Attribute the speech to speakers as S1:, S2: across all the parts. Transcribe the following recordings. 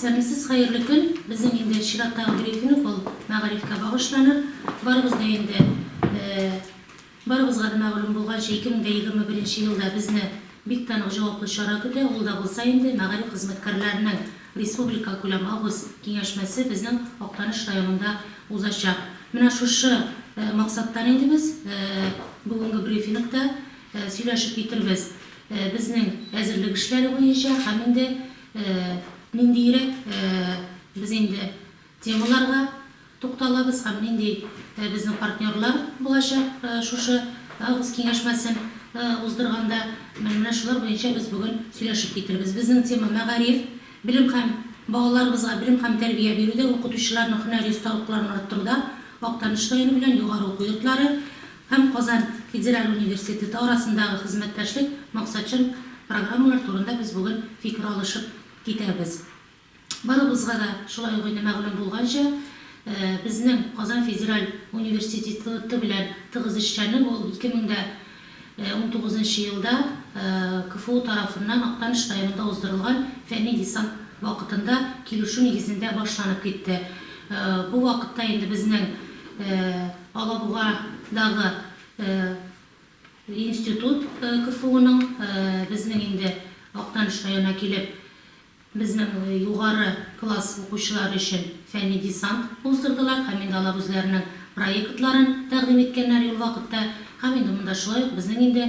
S1: Сәмсез хәерле көн! Безнең инде чираттагы брифинг ул мәгарифкә багышлана. Барыбыз да инде, барыбызга да мәгълүм булганча, 2021 елда безне бик тә нык җаваплы чара көтә, ул да булса инде мәгариф хезмәткәрләренең республикакүләм август киңәшмәсе безнең Актаныш районында узачак. Менә шушы максаттан инде без бүгенге брифингта сөйләшеп китербез безнең әзерлек эшләре буенча һәм инде Ниндиерәк без инде темаларга тукталабыз һәм нинди безнең партнерлар булачак шушы август киңәшмәсен уздырганда, менә шулар буенча без бүген сөйләшеп китербез. Безнең тема, мәгариф, белем һәм балаларыбызга белем һәм тәрбия бирүдә, укытучыларның һөнәри осталыкларын арттыруда Актаныш районы белән югары уку йортлары һәм Казан федераль университеты арасындагы хезмәттәшлек максатчан программалар турында без бүген фикер алышып китәбез. Барыбызга да шулай ук инде мәгълүм булганча, безнең Казан федераль университетыты белән тыгыз эшчәнлек ул 2019 нчы елда КФУ тарафыннан Актаныш районында уздырылган фәнни десант вакытында килешү нигезендә башланып китте. Бу вакытта инде безнең Алабугадагы институт КФУның безнең инде Актаныш районына килеп, безнең югары класс укучылары өчен фәнни десант уздырдылар һәм инде алар үзләренең проектларын тәкъдим иткәннәр ул вакытта. Һәм инде монда шулай ук безнең инде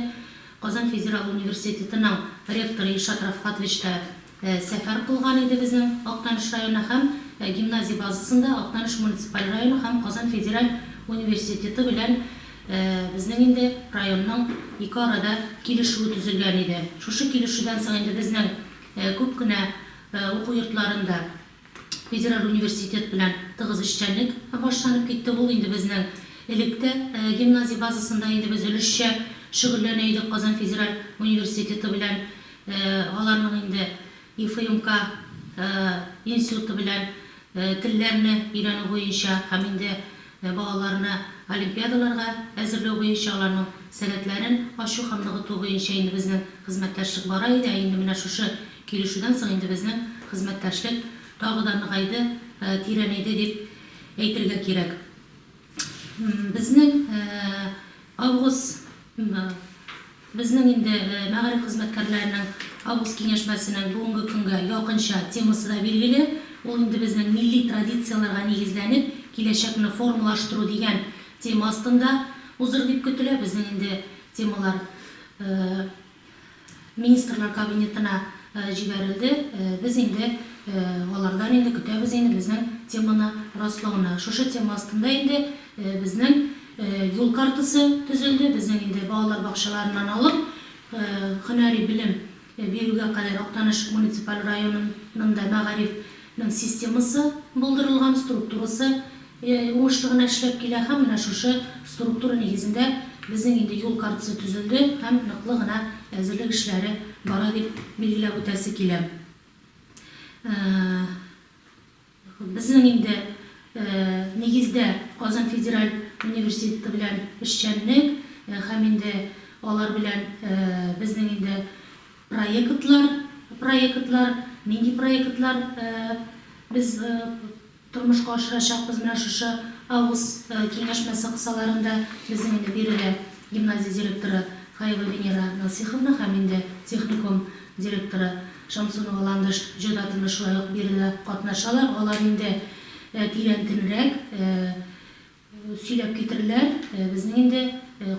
S1: Казан федераль университетының ректоры Илшат Рафкатович та Сәфәр кылган иде безнең Актаныш районы һәм гимназия базасында Актаныш муниципаль районы һәм Казан федераль университеты белән безнең инде районның ике арада килешүе төзелгән иде. Шушы килешүдән соң инде безнең күп кенә уку йортларында, Федераль университет белән тыгыз эшчәнлек башланып китте. Ул инде безнең элек тә гимназия базасында инде без өлешчә шөгыльләнә идек Казан федераль университеты белән, аларның инде ИФЮМК институты белән телләрне өйрәнү буенча һәм инде Ә балаларны олимпиадаларга әзерләү буенча, аларның сәләтләрен ачу һәм ныгыту буенча инде безнең хезмәттәшлек бара иде, ә инде менә шушы килешүдән соң инде безнең хезмәттәшлек тагы да ныгайды, тирәнәйде дип әйтергә кирәк. Безнең август. Безнең инде мәгариф хезмәткәрләренең август киңәшмәсенең бүгенге көнгә якынча темасы да билгеле, ул инде безнең милли традицияләргә нигезләнеп, киләчәкне формалаштыру дигән тема астында узыр дип көтелә. Безнең инде темалар Министрлар Кабинетына җибәрелде, без инде алардан инде көтәбез инде безнең теманы раслауны. Шушы тема астында инде безнең Юл картасы төзелде. Безнең инде балалар бакчаларыннан алып, һөнәри белем бирүгә кадәр Актаныш муниципаль районының да мәгариф нең системасы булдырылган, структурасы уңышлы гына эшләп килә һәм менә шушы структура нигезендә безнең инде юл картасы төзелде һәм ныклы гына әзерлек эшләре бара дип билгеләп үтәсе килә. Безнең инде, нигездә, Казан федераль университеты белән эшчәнлек һәм инде алар белән безнең инде проектлар, проектлар, нинди проектлар без тормышка ашырачакбыз, менә шушы август киңәшмәсе кысаларында безнең инде биредә гимназия директоры Фаева Венера Насыйховна һәм инде техникум директоры Шамсунова Ландыш җыйратына шулай ук бирелә, катнашалар. Алар инде тирәнтенрәк сөйләп китерерләр. Безнең инде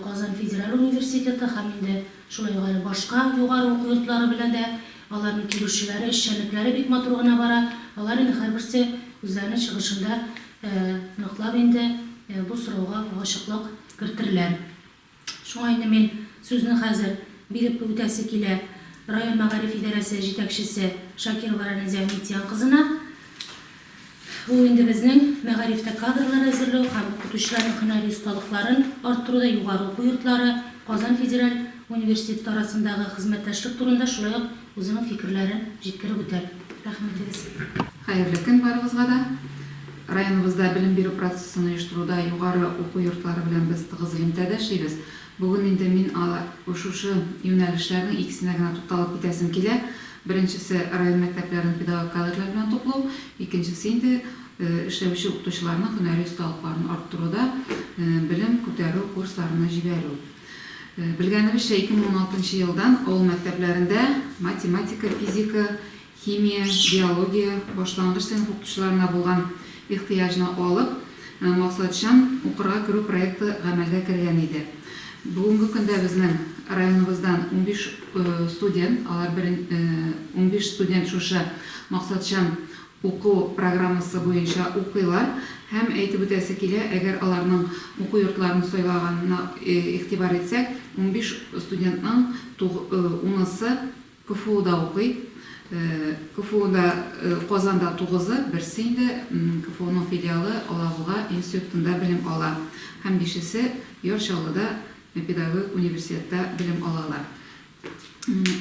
S1: Казан федераль университеты һәм инде шулай ук әле башка югары уку йортлары белән дә аларның килешүләре, эшчәнлекләре бик матур гына бара. Алар инде һәрберсе үзләренең чыгышында ныклап инде бу сорауга ачыклык кертерләр. Шуңа инде мин сүзне хәзер биреп үтәсе килә район мәгариф идарәсе җитәкчесе Шакирова Рәнәзә Митян кызына. Ул инде безнең мәгарифтә кадрлар әзерләү һәм укытучыларның һөнәри осталыкларын арттыруда югары уку йортлары, Казан федераль университеты арасындагы хезмәттәшлек турында, шулай ук Үзенең фикерләрен җиткереп үтәр. Рәхмәтегез. Хәерле көн
S2: барыгызга да. Районыбызда белем бирү процессын оештыруда югары уку йортлары белән без тыгыз элемтәдә эшлибез. Бүген инде мин шушы юнәлешләрнең икесенә генә тукталып китәсем килә. Беренчесе, район мәктәпләрен педагог кадрлар белән туплау, икенчесе инде эшләүче укытучыларның һөнәри осталыкларын арттыруда белем күтәрү курсларына җибәрү. Белгәнебезчә, 2016 нчы елдан авыл мәктәпләрендә математика, физика, химия, биология башлангыч сыйныф укытучыларына булган ихтыяҗны алып, максатчан укырга керү проекты гамәлгә кергән иде. Бүгенге көндә безнең районыбыздан унбиш студент, алар унбиш студент шушы максатчан уку программасы буенча укыйлар һәм, әйтеп үтәсе килә, әгәр аларның уку йортларын сайлаганына игътибар итсәк, унбиш студентның туг унысы КФУда укый. КФУда Казанда тугызы, берсе инде КФУның филиалы Алабуга институтында белем ала һәм бишесе Яр Чаллыда педагогик университетта белем алалар.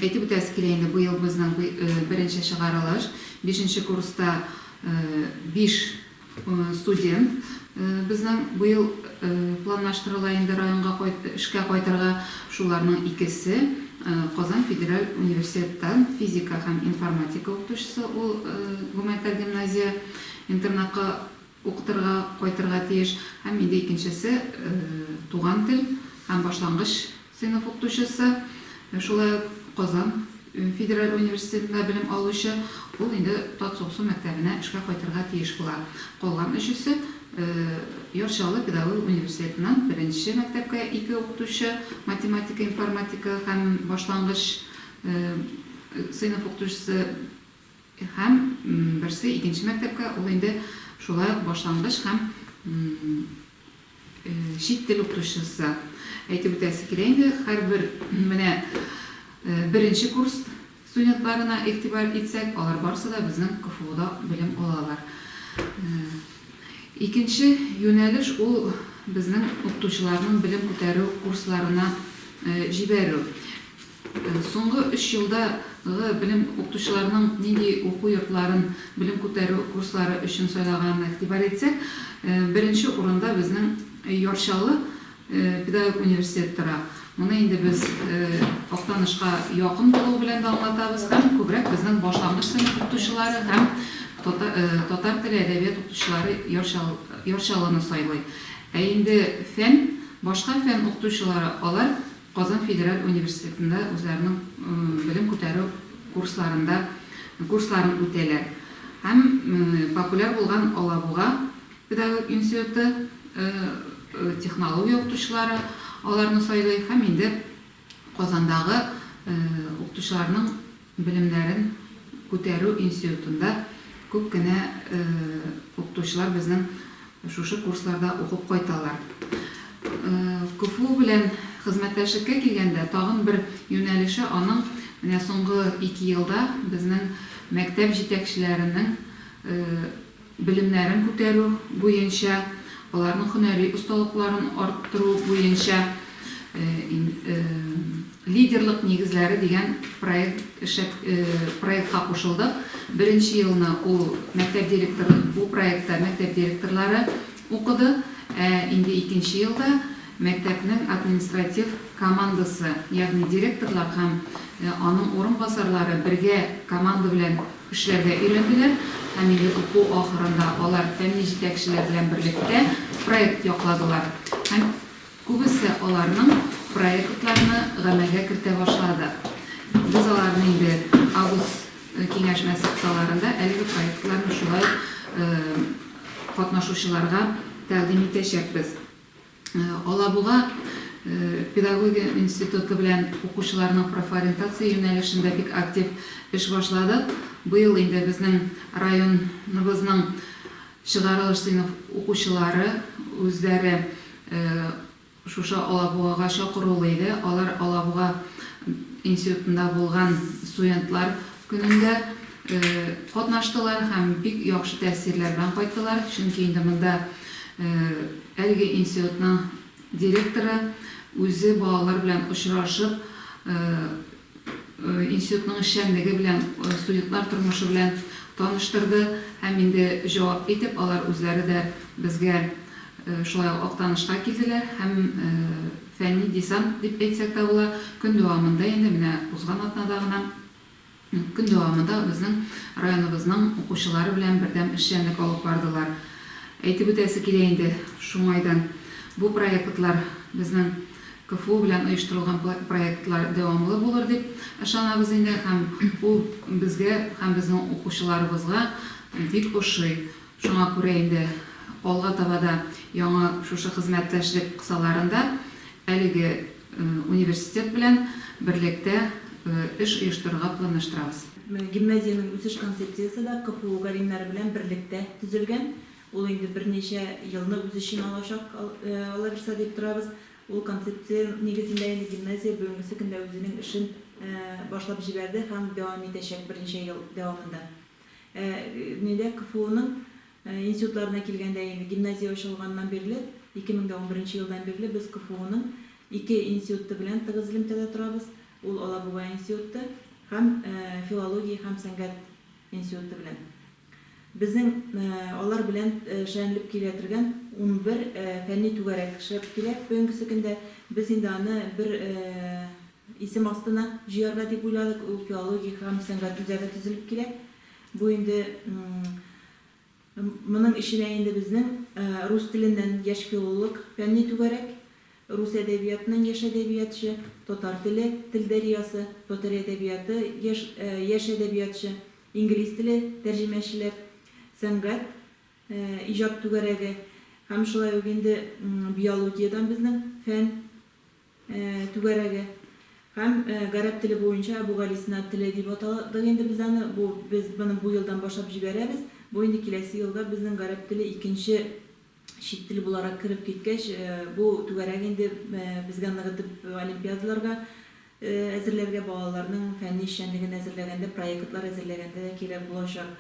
S2: Әйтеп үтәсе килә инде, быел безнең беренче чыгарылыш. Бишенче курста биш студент безнең быел планлаштырыла инде районга эшкә кайтырга. Шуларның икесе Казан федераль университеттан физика һәм информатика укытучысы, ул гуманитар гимназия-интернатка укытырга кайтырга тиеш һәм инде икенчесе туган тел һәм башлангыч сыйныф укытучысы, шулай ук Казан федераль университетында белем алучы, ул инде Татсуксу мәктәбенә эшкә кайтырга тиеш була. Калган өчесе Яр Чаллы педагогик университетыннан беренче мәктәпкә ике укытучы, математика, информатика һәм башлангыч сыйныф укытучысы, Һәм берсе икенче мәктәпкә, ул инде шулай ук башлангыч һәм чит тел укытучысы. Әйтеп үтәсе килә инде, һәрбер менә беренче курс студентларына игътибар итсәк, алар барысы да безнең КФУда белем алалар. Икенче юнәлеш ул безнең укытучыларның белем күтәрү курсларына җибәрү. Соңгы өч елда гы белем укытучыларының нинди уку йортларын белем күтәрү курслары өчен сайлаганына игътибар итсәк, беренче урында безнең Яр Чаллы педагогик университеты тора. Моны инде без Актанышка якын булуы белән дә аңлатабыз һәм күбрәк безнең башлангыч сыйныф укытучылары һәм татар теле, әдәбият укытучылары Яр Чаллыны сайлый. Ә инде фән, башка фән укытучылары, алар Казан федераль университетында үзләренең белем күтәрү курсларында курсларын үтәләр һәм популяр булган Алабуга педагогик институты технология укытучылары аларны сайлый һәм инде Казандагы укытучыларның Белемнәрен күтәрү институтында күп кенә укытучылар безнең шушы курсларда укып кайталар. КФУ белән хезмәттәшлеккә килгәндә, тагын бер юнәлеше аның менә соңгы ике елда безнең мәктәп җитәкчеләренең белемнәрен күтәрү буенча, аларның һөнәри осталыкларын арттыру буенча Лидерлык нигезләре дигән проект эшләп проектка кушылдык. Беренче елны ул мәктәп директор бу проектта мәктәп директорлары укыды, ә инде икенче елда мәктәпнең административ командасы, ягъни директорлар һәм аның урынбасарлары бергә команда белән Эшләргә өйрәнделәр һәм милли уку ахырында алар фәнни җитәкчеләр белән берлектә проект якладылар һәм күбесе аларның проектларны гамәлгә кертә башлады. Без аларны инде август киңәшмәсе кысаларында әлеге проектларны шулай ук катнашучыларга тәкъдим итәчәкбез. Алабуга педагогия институты белән укучыларның профориентация юнәлешендә бик актив эш башладык. Быел инде безнең районыбызның чыгарылыш сыйныф укучылары үзләре шушы Алабугага чакырулы иде. Алар Алабуга институтында булган студентлар көнендә. Катнаштылар һәм бик яхшы тәэсирләр белән кайттылар, чөнки инде монда әлеге институтның директоры үзе балалар белән очрашып, институтның эшчәнлеге белән, студентлар тормышы белән таныштырды һәм инде җавап итеп, алар үзләре дә безгә шулай ук Актанышка килделәр һәм фәнни десант дип әйтсәк тә була, көн дәвамында инде менә узган атнада гына Көн дәвамында безнең районыбызның укучылары белән бердәм эшчәнлек алып бардылар. Әйтеп үтәсе килә инде, шуңайдан бу проектлар, безнең КФУ белән оештырылган проектлар дәвамлы булыр дип ышанабыз инде һәм ул безгә һәм безнең укучыларыбызга бик ошый. Шуңа күрә инде алга таба да яңа шушы хезмәттәшлек кысаларында әлеге Университет белән берлектә эш оештырырга планлаштырабыз. Гимназиянең
S3: үсеш концепциясе дә КФУ галимнәре белән берлектә төзелгән. Ул инде берничә елны үз эченә алачак, алабирса, дип торабыз. Ул концепция нигезендә инде гимназия бүгенгесе көндә үзенең эшен башлап җибәрде һәм дәвам итәчәк берничә ел дәвамында. Нидә КФУның Институтларына килгәндә, инде гимназия ачылганнан бирле, 2011 елдан бирле без КФУның ике институты белән тыгыз элемтәдә торабыз, ул Алабуга институты һәм филология һәм сәнгать институты белән. Безнең алар белән шәенлеп килә тергән унбер фәнни түгәрәк эшләп килә бүгенгесе көндә. Без инде аны бер исем астына җыярга дип уйладык, ул филология һәм сәнгать үзәге төзелеп килә. Бу инде моның эченә инде безнең рус теленнән яшь филолог фәнни түгәрәк, рус әдәбиятының яшь әдәбиятчы, татар теле, тел дәрьясы, татар әдәбияты, яшь яшь әдәбиятчы, инглиз теле, тәрҗемәчеләр, сәнгать, иҗат түгәрәге һәм шулай ук инде биологиядән безнең фән, түгәрәге һәм гарәп теле буенча Әбүгалисина теле дип атадык инде без аны, бу без моны бу елдан башлап җибәрәбез, бу инде киләсе елга безнең гарәп теле икенче чит тел буларак кереп киткәч, бу түгәрәк инде безгә ныгытып олимпиадаларга әзерләргә, балаларның фәнни эшчәнлеген әзерләгәндә, проектлар әзерләгәндә дә кирәк булачак.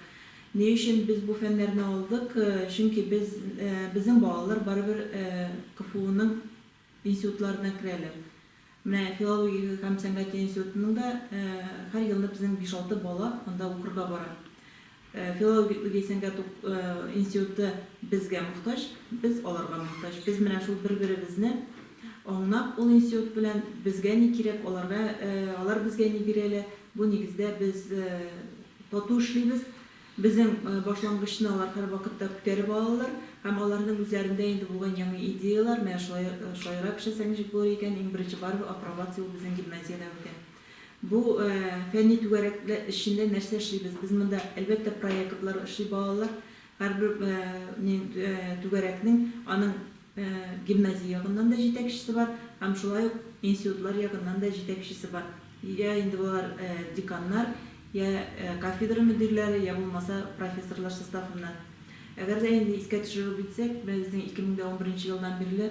S3: Ни өчен без бу фәннәрне алдык? Чөнки без, безнең балалар барыбер КФУның Институтларына керәләр. Менә филология һәм сәнгать институтының да һәр елны безнең биш-алты бала анда укырга бара. Филология сәнгать институты безгә мохтаҗ, без аларга мохтаҗ. Без менә шул бер-беребезне аңнап, ул институт белән безгә ни кирәк, аларга, алар безгә ни бирәләр, бу нигездә без тату эшлибез. Безнең башлангычны алар һәрвакытта күтәреп алалар һәм аларның үзләрендә инде булган яңа идеялар, менә шулай шаярап эшләсәк ничек булыр икән, иң беренче барыбер апробация ул безнең гимназиядә үтә. Бу фәнни түгәрәкләр эчендә нәрсә эшлибез? Без монда, әлбәттә, проектлар эшли балалар, һәрбер түгәрәкнең аның Гимназия ягыннан да җитәкчесе бар һәм шулай ук институтлар ягыннан да җитәкчесе бар. Йә инде алар деканнар, йә кафедра мөдирләре, йә булмаса профессорлар составыннан. Әгәр дә инде искә төшереп үтсәк, менә безнең 2011 нче елдан бирле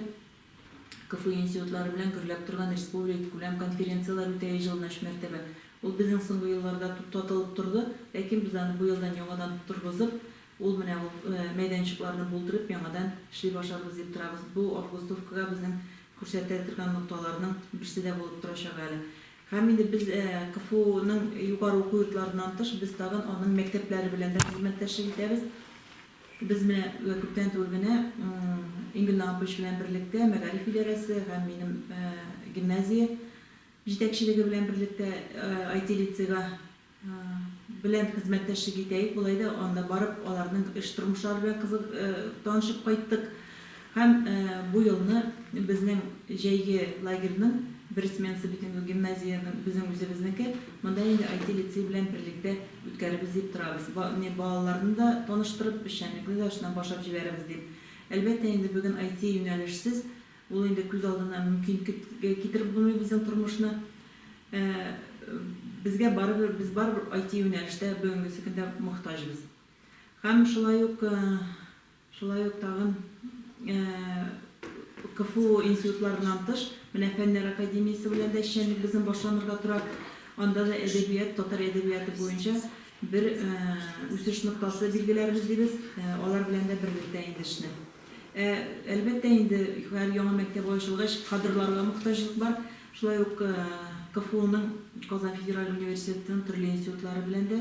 S3: КФУ институтлары белән гөрләп торган республиккүләм конференцияләр үтә еш елына өч мәртәбә. Ул безнең соңгы елларда туктатылып торды, ләкин без аны бу елдан яңадан торгызып, Ул менә ул мәйданчыкларны булдырып, яңадан эшли башларбыз дип торабыз. Бу августовкага безнең күрсәтә торган нокталарның берсе дә булып торачак әле. Һәм инде без КФУның югары уку йортларыннан тыш, без тагын аның мәктәпләре белән дә хезмәттәшлек итәбез. Без менә күптән түгел генә Ингел Наапович белән берлектә, мәгариф идарәсе һәм минем гимназия җитәкчелеге белән берлектә IT-лицейга, Белән хезмәттәшлек итәек, болай да анда барып, аларның эш тормышлары белән кызык танышып кайттык. Һәм бу елны безнең җәйге лагерьның бер сменасы бит инде ул гимназиянең безнең үзебезнеке, монда инде IT лицей белән берлектә үткәрербез дип торабыз. Ба не балаларны да таныштырып, эшчәнлекне дә шуннан башлап җибәрербез дип. Әлбәттә инде бүген IT юнәлешсез Ул инде күз алдына мөмкин китереп булмый безнең тормышны. Ә безгә барыбер, без барыбер IT юнәлештә бүгенгесе көндә мохтаҗбыз. Һәм шулай ук, шулай ук тагын КФУ институтларыннан тыш, менә Фәннәр академиясе белән дә эшчәнлегебезнең башланырга тора. Анда да әдәбият, татар әдәбияты буенча бер үсеш ноктасы билгеләрбез дибез. Алар белән дә берлектә инде эшне. Ә, әлбәттә инде, һәр яңа мәктәп ачылгач, кадрларга мохтаҗлык бар. Шулай ук КФУның, Казан федераль университетының төрле институтлары белән дә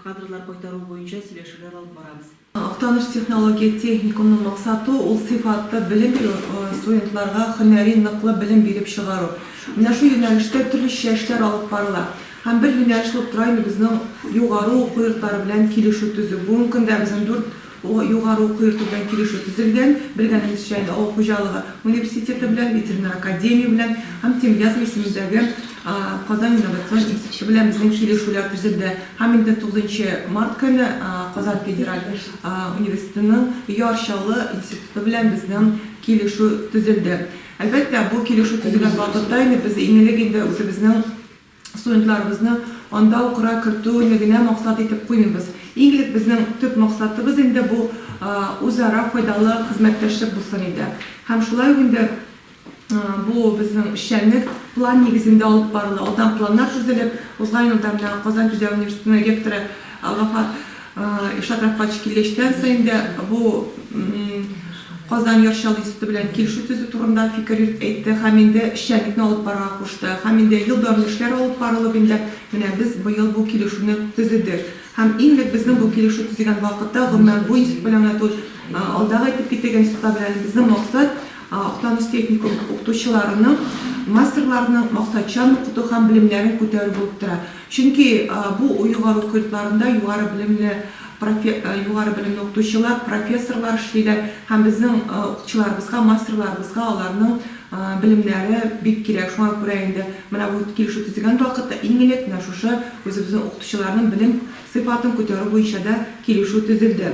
S3: кадрлар кайтару буенча сөйләшүләр алып барабыз. Актаныш технология
S4: техникумның максаты, ул сыйфатлы белем бирү, студентларга һөнәри ныклы белем биреп чыгару. Менә шул юнәлештә төрлечә эшләр алып барыла. Һәм бер юнәлеш булып тора инде безнең югары уку йортлары белән килешү төзү. Бүгенге көндә безнең дүрт Бу югары уку йорты белән килешү төзелгән, белгәнегезчә, инде авыл хуҗалыгы университеты белән, ветеринар академия белән һәм Тимирязев исемендәге Казан инновацион институты белән безнең килешүләр төзелде һәм инде тугызынчы март көне Казан федераль университетының Яр Чаллы институты белән безнең килешү төзелде. Әлбәттә, бу килешү төзелгән вакытта инде без иң элек инде үзебезнең Студентларыбызны анда укырга кертү не генә максат итеп куймыйбыз. Иң элек безнең төп максатыбыз инде бу үзара файдалы хезмәттәшлек булсын иде. Һәм шулай ук инде бу безнең эшчәнлек план нигезендә алып барыла. Алдан планнар төзелеп, узган елда менә Казан Түдәү университетының ректоры Гафар Илшат Рафкатович килгәчтән саен дә бу Казан Яр Чаллы институты белән килешү төзү турында фикер йөрт әйтте һәм инде эшчәнлекне алып барырга кушты һәм инде ел дәвамлы эшләр алып барылып инде менә без быел бу килешүне төзедек һәм иң элек безнең бу килешү төзегән вакытта гомумән бу институт белән генә түгел, алдагы әйтеп китегән институтлар белән дә безнең максат Актаныш техникум укытучыларының, мастерларының максатчан укыту һәм белемнәрен күтәрү булып тора. Чөнки бу оегалу көлтларында югары белемле профе югары белемле укытучылар, профессорлар эшлиләр һәм безнең укытучыларыбызга, мастерларыбызга аларның белемнәре бик кирәк. Шуңа күрә инде менә бу килешү төзегән вакытта иң элек менә шушы үзебезнең укытучыларның белем сыйфатын күтәрү буенча да килешү төзелде.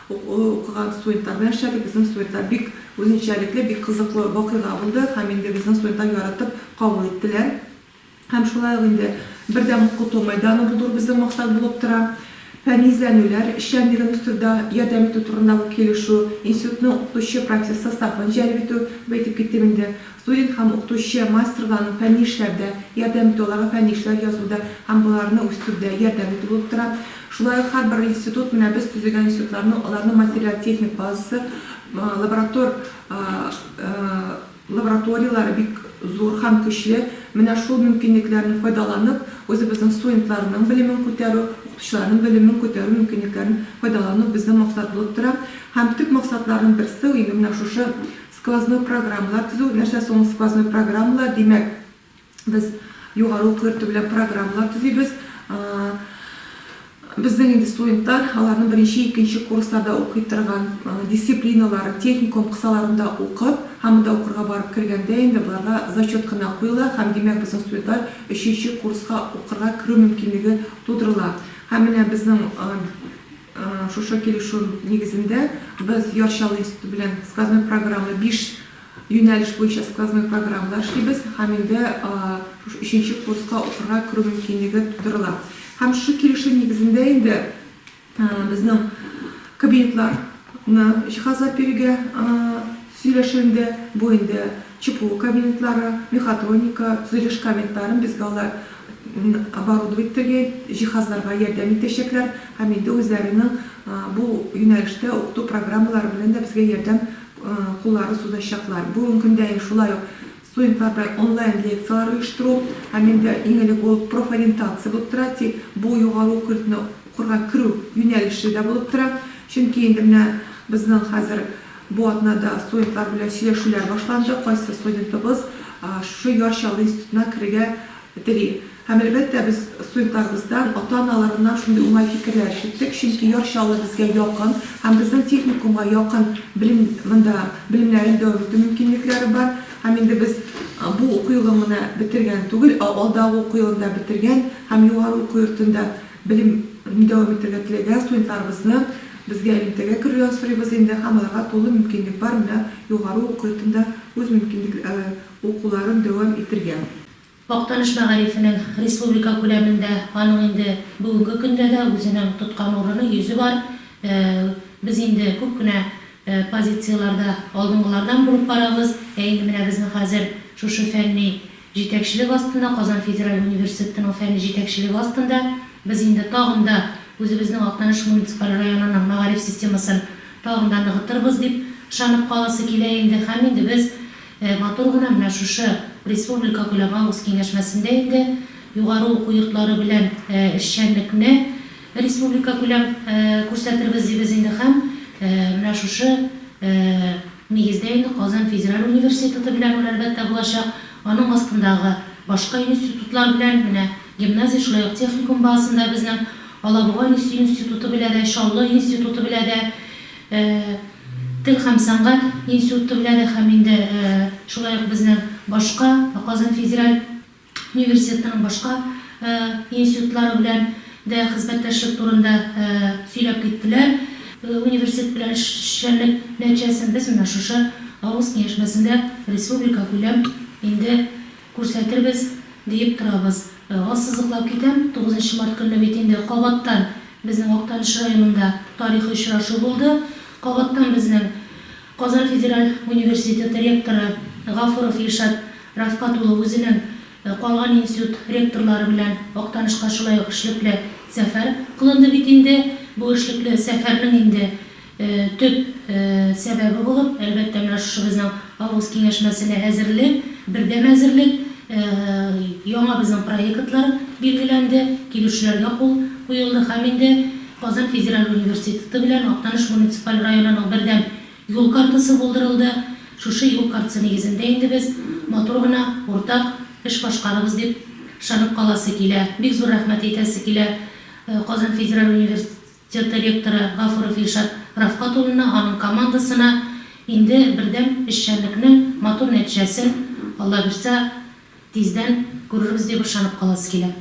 S4: Укыган студентлар белән эшләдек. Безнең студентлар бик үзенчәлекле, бик кызыклы вакыйга булды һәм инде безнең студентлар яратып кабул иттеләр. Һәм шулай ук инде бердәм укыту мәйданы булдыру безнең максат булып тора. Фәнни эзләнүләр эшчәнлеген үстерүдә ярдәм итү турындагы килешү, институтның укытучы профессор составын җәлеп итү, бу әйтеп киттем инде, студент һәм укытучы мастерларның фәнни эшләрдә ярдәм итү, аларга фәнни эшләр язуда һәм боларны үстерүдә ярдәм итү булып тора. Шулай ук һәрбер институт менә без төзегән институтларны, аларның материаль-техник базасы, лаборатор лабораторияләре бик зур һәм көчле. Менә шул мөмкинлекләрне файдаланып, үзебезнең студентларның белемен күтәрү, укытучыларның белемен күтәрү мөмкинлекләрен файдалану безнең максат булып тора. Һәм төп максатларның берсе, инде менә шушы сквозной программалар төзү. Нәрсә соң ул сквозной программалар? Димәк, Без югары уку йорты белән программалар төзибез. Безнең инде студентлар аларның беренче, икенче курсларда укый торган дисциплиналарын, техникум кысаларында укып, һәм монда укырга барып кергәндә инде боларга зачет кына куела һәм, димәк, безнең студентлар өченче курска укырга керү мөмкинлеге тудырыла. Һәм менә безнең шушы килешү нигезендә без Яр Чаллы институты белән сквозной программалы биш Юнәлеш буенча сквозной программалар эшлибез һәм инде шушы өченче курска укырга керү мөмкинлеге тудырыла. Һәм шушы килешү нигезендә инде безнең кабинетларны җиһазлап бирергә сөйләшенде. Бу инде ЧПУ кабинетлары, мехатроника, төзелеш кабинетларын безгә алар оборудовать итәргә, җиһазларга ярдәм итәчәкләр һәм инде үзләренең бу юнәлештә укыту программалары белән дә безгә ярдәм Куллары суда чаклар. Бүген көндә шулай ук студентларда онлайн лекцияләр оештыру һәм инде иң элек ул профориентация булып тора, тик бу югары уку йортына укырга керү юнәлеше дә булып тора. Чөнки инде менә безнең хәзер бу атнада студентлар белән сөйләшүләр башланды, кайсы студентыбыз шушы Яр Чаллы институтына керергә тели. Һәм, әлбәттә, без студентларыбыздан, ата-аналарыннан шундый уңай фикерләр ишеттек, чөнки Яр Чаллы безгә якын һәм безнең техникумга якын белем монда белемнәрен дәвам итү мөмкинлекләре бар. Һәм инде без бу уку елын гына бетергән түгел, ә алдагы уку елын да бетергән һәм югары уку йортында белем н дәвам итергә теләгән студентларыбызны безгә элемтәгә керүләрен сорыйбыз инде һәм аларга тулы мөмкинлек бар менә югары уку йортында үз мөмкинлек укуларын дәвам итергә. Актаныш
S1: мәгарифенең республика күләмендә аның инде бүгенге көндә дә үзенең тоткан урыны, йөзе бар. Без инде күп кенә позицияләрдә алдынгылардан булып барабыз. Ә инде менә безнең хәзер шушы фәнни җитәкчелек астында, Казан федераль университетының фәнни җитәкчелеге астында без инде тагын да үзебезнең Актаныш муниципаль районының мәгариф системасын тагын да ныгытырбыз дип ышанып каласы килә инде. Һәм инде без Ә матур гына менә шушы республикакүләм август киңәшмәсендә инде югары уку йортлары белән эшчәнлекне республикакүләм күрсәтербез дибез инде һәм менә шушы нигездә инде Казан федераль университеты белән ул, әлбәттә, булачак, аның астындагы башка институтлар белән, менә гимназия, шулай ук техникум базасында безнең Алабуга институты белә дә, Чаллы институты белә дә, Тел һәм сәнгать институтлары һәм инде шулай ук безнең башка Казан федераль университетының башка институтлары белән дә хезмәттәшлек турында сөйләп киттеләр. Университет белән эшчәнлек нәтиҗәсен без менә шушы август киңәшмәсендә республикакүләм инде Күрсәтербез, диеп торабыз. Ассызыклап китәм, тугызынчы март көнне бит инде кабаттан безнең Актаныш районында тарихи очрашу булды. Кабаттан безнең Казан федераль университеты ректоры Гафуров Илшат Рафкат улы үзенең калган институт ректорлары белән Актанышка шулай ук эшлекле сәфәр кылынды бит инде. Бу эшлекле сәфәрнең инде Төп сәбәбе булып, әлбәттә, менә шушы безнең август киңәшмәсенә әзерлек, бердәм әзерлек, яңа безнең проектлар билгеләнде, килешүләргә кул куелды һәм инде Казан федераль университеты белән Актаныш муниципаль районының бердәм юл картасы булдырылды. Шушы юл картасы нигезендә инде без матур гына уртак эш башкарырбыз дип ышанып каласы килә. Бик зур рәхмәт әйтәсе килә Казан федераль университетына. Цех директоры Гафуров Илшат Рафкат улына, аның командасына инде бердәм эшчәнлекнең матур нәтиҗәсен, Аллабирса, тиздән күрербез дип ышанып каласы килә.